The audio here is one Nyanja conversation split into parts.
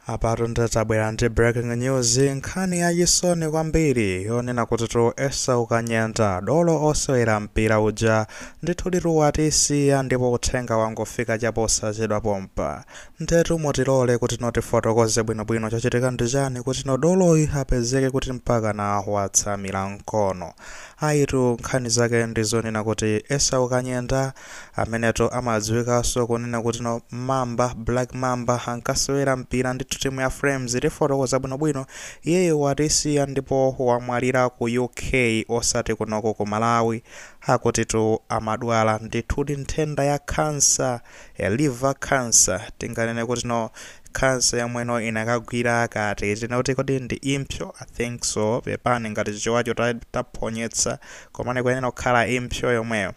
apatu ndabwera ndi breaking news nkhani yachisoni kwambiri yonena kuti tu esau kanyenda dolo osewera mpira uja ndithuditu watisiya ndipo uthenga wangofika chaposachedwa pompa ndetu mutilole kuti no tifotokoze bwinobwino chachitika ndi chani kuti no doloyi apezeke kuti mpaka na watsamira mkono ayitu nkhani zake ndi zonena kuti esau kanyenda amenetu amadziwikanso kunena kuti no mamba black mamba ankasewera mpira ndithu timu ya flames tifotokoza bwinobwino iyeyo watisiya ndipo wamwalira ku uk osati kunoko ku malawi akutitu amadwala ndithudi nthenda ya cancer ya liver cancer tinganene kuti no cancer yomweno inakagwira kati tinakuti kodi ndi impsyo i think so pepani ngati Chichewacho taphonyetsa komane kuyenera kukhala impsyo yomweyo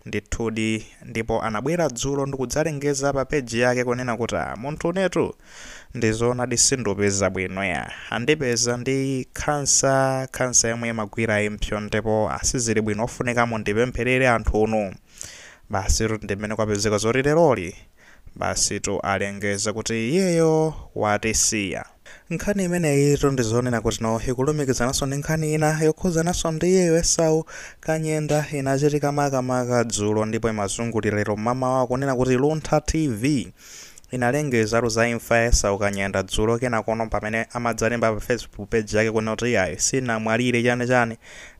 Ndithudi, ndipo anabwera dzulo ndikudzalengeza pa page yake kunena kuti ah munthune tu ndi zoonadi sindupeza bwino yah andipeza ndi khansa, khansa yomwe imagwira impsyo ndipo ah sizili bwino ofunika mundipempherere anthunu. Basitu ndi mmene kwapezeka zoti leroli. Basitu alengeza kuti iyeyo watisiya. Nkhani imeneyitu ndi zonena kuti no ikulumikizananso ndi nkhani ina yokhuzananso ndi iyeyo Esau Kanyenda inachitika makamaka dzulo ndipo imazungulira lero mmamawa kunena kuti Luntha TV inalengezatu za imfa ya Esau Kanyenda dzulo kenakono pamene amadzalemba pa Facebook page yake kunena kuti iyayi sinamwalire chani chani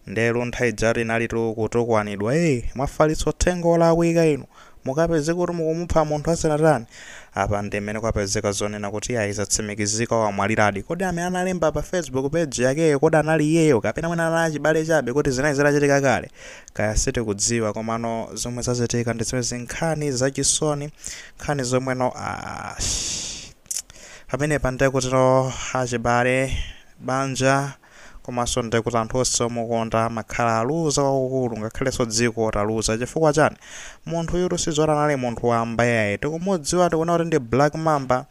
nde Luntha ijatu inalitu kutukwanidwa ee mwafalitsa uthenga olakwika inu Mukapezeka kuti mukumupha munthu asanatani? Apa ndi mmene kwapezeka zonena kuti ayi zatsimikizika wamwaliradi. Kodi amene analemba pa Facebook page yakeyo kodi anali iyeyo kapena mwina anali achibale chabe kodi zinali zitachitika kale? Kaya sitikudziwa komano zomwe zachitika ndi zimenezi nkhani zachisoni nkhani zomweno ash pamenepa ndiye kutino achibale banja komanso nde kuti anthu onse omukonda akhala aluza kwakukulu ngakhalenso dziko taluza chifukwa chani munthuyutu sizoti anali munthu wamba yayi tikumudziwa tikuona kuti ndi black mamba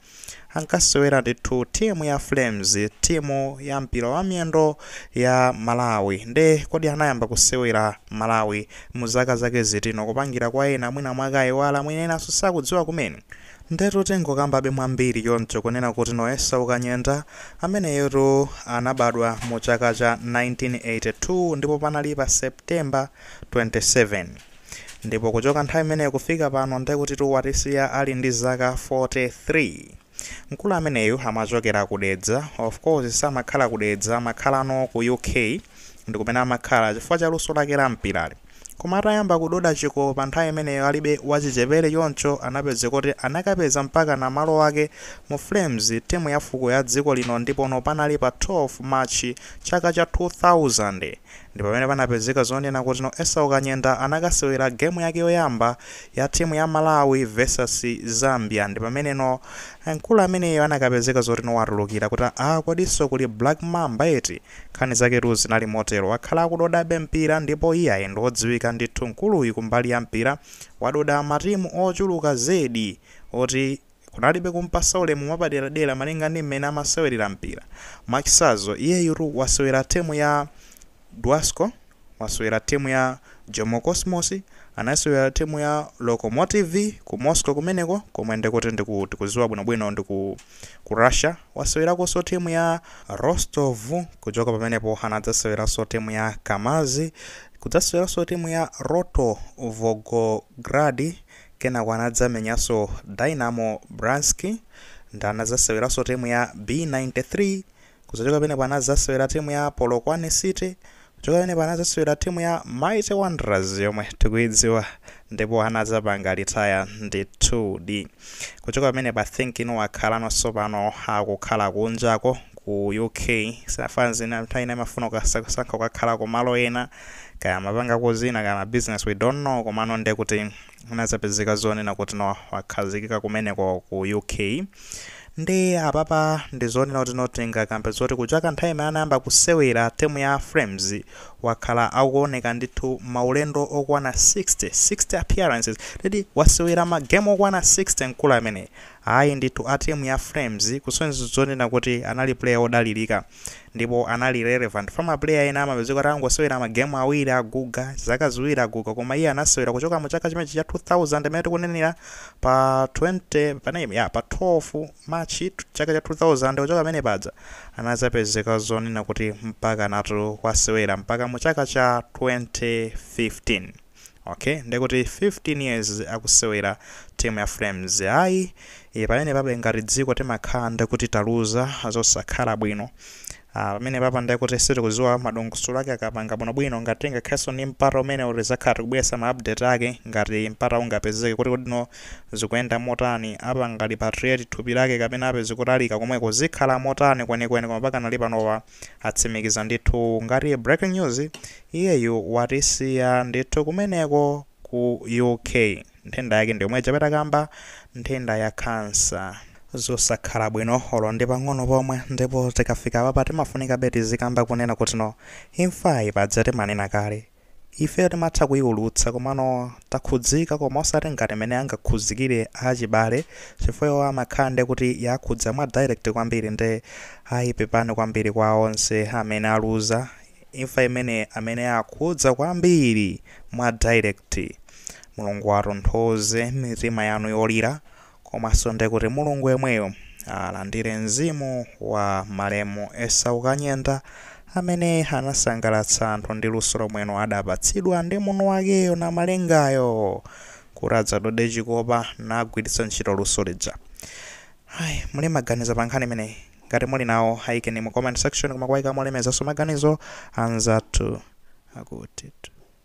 ankasewera ndithu timu ya flames timu ya mpira wa miyendo ya malawi nde kodi anayamba kusewera malawi mu zaka zake ziti no kupangira kwa ena mwina mwake ayiwala mwina enanso sakudziwa kumene Ndetu tingokambabe mwambiri choncho kunena kuti no Esau Kanyenda ameneyotu anabadwa mu chaka cha 1982 ndipo panali pa September 27 ndipo kuchoka nthawi imeneyo kufika pano ndekutitu watisiya ali ndi zaka 43. Mkulu ameneyu amachokera ku Dedza, of course samakhala ku Dedza amakhalano ku UK ndikumene amakhala chifukwa cha luso lake la mpirali. Koma atayamba kudoda chikopa nthawi imeneyo alibe wachichepere choncho anapezeka kuti anakapeza mpakana malo ake mu Flames timu ya fuko ya dziko lino ndipono panali pa 12 March chaka cha 2000 ndipamene panapezeka zonena kuti no Esau Kanyenda anakasewera game yake yoyamba ya timu ya Malawi versus Zambia ndipamene no mkulu ameneyo anakapezeka zoti no watulukira kuti aah kodinso kuli Black Mamba eti Nkhani zaketu zinali motero. Wakhala akudodabe mpira ndipo iye ayi ndi wodziwika ndithu mkuluyu kumbali ya mpira. Wadoda matimu ochuluka zedi oti kunalibe kum'pasa ulemu mwapaderadera malinga ndi mmene amasewerera mpira. Mwachitsanzo, iyeyutu wasewera timu ya Dwasco. Wasewera timu ya Jomo Cosmos, anasewera timu ya Lokomotiv ku Moscow kumeneko komwe ndikuti ndiku tikuziwa bwinobwino ndi ku Russia. Wasewerakonso timu ya Rostov kuchoka pamenepo anadzaseweranso timu ya Kamaz kudzaseweranso timu ya Rotor Volgograd kenako anadzamenyanso Dynamo Bryansk nde anadzaseweranso timu ya B93 Kuzachoka pamenepo anazasewera timu ya Polokwane City kuchoka pamenepo anazasewera timu ya Mighty Wanderers yomwe tikuidziwa ndipo anazapanga retire ndithudi kuchoka pamenepo I think no wakhalano sopano akukhala kunjako ku UK si fanzi ina nthawi ina imafuna ukasankha kukakhala ku malo ena kaya amapanga kuzina kaya ma business we don't know komano ndekuti anazapezeka zonena kuti no wakhazikika kumeneko ku uk nde apapa ndizonena kuti no tingakambe zoti kuchoka nthawi imene anayamba kusewera timu ya flames wakhala akuoneka ndithu maulendo okwana 60 60 appearances titi wasewera magemu okwana 60 mkulu ameneyu ayi ndithu a timu ya flames kusonyeza zonena kuti anali player odalirika ndipo anali relevant fa ma player ena amapezeka kuti angosewera ma game awiri aguga zaka ziwiri aguga koma iye anasewera kuchoka mu chaka chimenechi cha 2000 mmene tikunenera pa 20 paname ya pa 12 March chaka cha 2000 kuchoka pamene paja anazapezeka zonena kuti mpakanatu wasewera mpaka mu chaka cha 2015 Ok ndekuti 15 years akusewera timu ya Flames ayi e, pamene papa ngati dziko timakhala ndekuti taluza zosakhala bwino Ah, pamene papa ndekuti sitikuziwa madongosolo ake akapanga bwinobwino ngati tingakhalenso ndi mpata umenewu tizakhala tikubweresa ma update ake ngati mpata ungapezeke kuti kodi no zikuyenda motani apanga repatriate thupi lake kapena apeze kutalika komweko zikhala motani kwenikweni koma pakanali panopa atsimikiza ndithu ngati breaking news iyeyu watisiya ndithu kumeneko ku uk nthenda yake ndiyomwe ija takamba nthenda ya khansa zosakhala bwino olo ndi pang'ono pomwe ndipo tikafika papa timafunikabe tizikamba kunena kuti no imfayi paja timanena kale Ifeyo timatha kuiulutsa komano takhudzika koma osati ngati mene angakhuzikire achibale chifukwa iwowo amakhala nde kuti yakhudza mwa direct kwambiri nde ayi pepani kwambiri kwa onse amene aluza imfa imene amene yakhudza kwambiri mwa direct Mulungu atonthoze mitima yanu yolira Komaso nde kuti Mulungu yemweyo alandire mzimu wa malemu Esau Kanyenda amene anasangalatsa anthu ndi luso lomweno adapatsidwa ndi mwini wakeyo Namalengayo kuti adzadode chikopa nagwiritsa ntchito luso lija. Ai muli maganizo pankhani imeneyi? Ngati muli nawo ayikeni mu comment section koma kuwayika molemekezaso maganizo anzathu akuti.